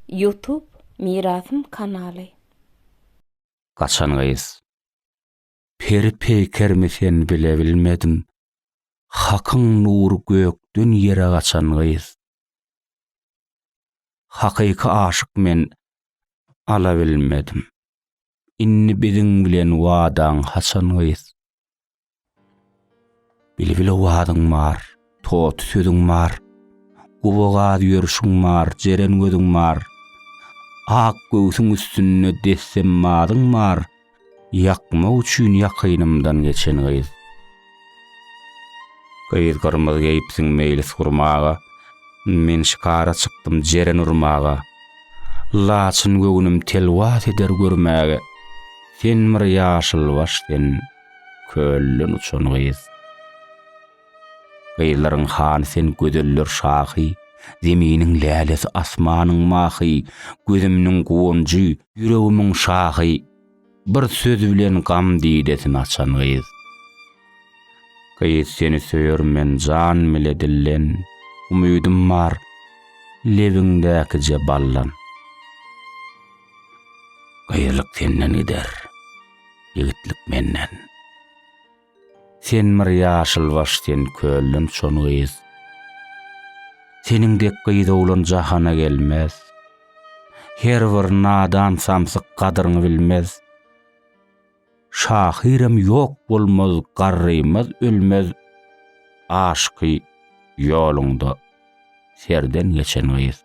Youtube mirasym kanaly. Gaçan gyz. Peri peýkermi sen bile bilmedim Hakyň nury gökden ýere gaçan gyz. Hakyky aşyk men alabilmedim Indi biziň bilen wadaň haçan gyz. Bilbil owazyň bar, toty sözüň bar, Gowagaz ýörşüň bar, jeren gözüň bar, Ak göwsüň üstünde dessemmazyň bar, Ýakmak üçin ýakynymdan geçen gyz. Gyz gyrmyz geýipsiň meýlis gurmaga, Men şikara çykdym jeren urmaga, Laçyn göwnüm telwas eder görmäge, Sen bir ýaşylbaş sen, Kölden uçan gyz. Gyzlaryň hany sen gözeller şahy, Zeminiň lälesi asmanyň mahy, Gözümniň guwanjy, ýüregimiň şahy, Bir söz bilen gam didesini açan gyz. Gyz seni söýerin men jan bile dilden, Umydym bar lebiňdäkije baldan. Gyzlyk senden gider. ýigitlik menden. Sen bir ýaşylbaş sen kölden çon gyz. Seniň dek gyz oglan jahana gelmez. Her bir nadan samsyk gadyryňy bilmez. Şahyram ýok bolmaz garrymaz ölmez aşky ýoluňda. Serden geçen gyz.